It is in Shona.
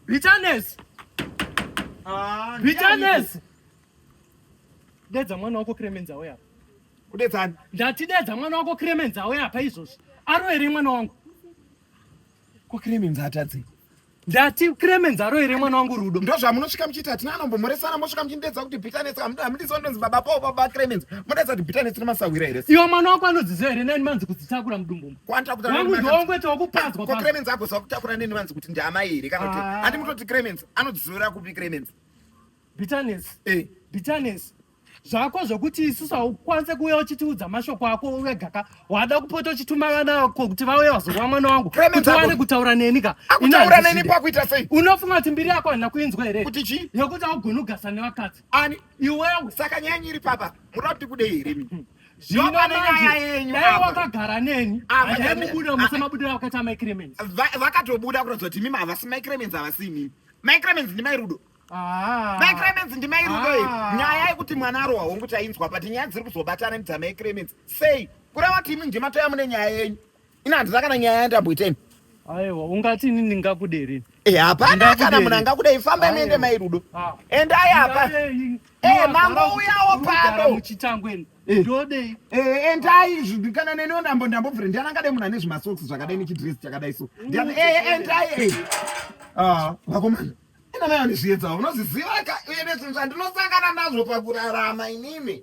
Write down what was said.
Bitterness. Ah, Bitterness. Dedza mwana wako Clemens auya apa. Kudedzani? Ndati dedza mwana wako Clemens auya apa izvozvi. Aro here mwana wangu? Ko Clemens atadzi. Ndati Clemens aro here mwana wangu Rudo? Ndo zvamunosvika muchiita hatina anombomoresana mosvika muchindedza kuti Bitterness hamudisi vandonzi baba Paul baba Clemens. Modedza kuti Bitterness nemasahwira here? Iwe mwana wako anodziziva here nani manzi kudzitakura mudumbu. wangu ndongwete wokupadzwa ko cremens agoziva kutakura neni vanzi kuti ndiamai here kana kuti ah. andi mutoti cremens anodzivira kupi cremens bitterness eh. bitterness zvako zvokuti isusu haukwanise kuuya uchitiudza mashoko ako wegaka wada kupota uchituma vana ko kuti vauye vazorwa mwana wangu kuti wane kutaura neni ka akutaura neni pakuita sei unofunga kuti mbiri yako handina kuinzwa here kuti chii yokuti haugoni kugasa nevakadzi ani iwewe saka nyaya nyiri papa munoda kuti kudei here zvino nenyaya yenyu dai wakagara neni aimubuda musamabudira vakaita mai cremens vakatobuda kuratidza kuti mimi havasi mai cremens havasi mimi mai cremens ndi mai rudo ah. mai cremens ndi mai rudo iyi ah. nyaya yekuti mwana arohwa hongu tainzwa but nyaya dziri kuzobatana ndi dzamai cremens sei kureva kuti imi ndimatoya mune nyaya yenyu ini handina kana nyaya yandamboita ini aiwa ungati ini ndingakude here Eh, hapana kana munhu angakudei fambai muende mai rudo ah. endai apa eh, mangouyawo pano muchitango eni Eh. ndodei eh, endai zvi- kana neniwo ndambo ndambobvira ndiani angade munhu ane zvimasocks zvakadai nechidress chakadai so ndiani eh, endai eh. Ah, vakomana ina mai andizviedzawo unozviziva ka uye nezvinhu zvandinosangana nazvo pakurarama inini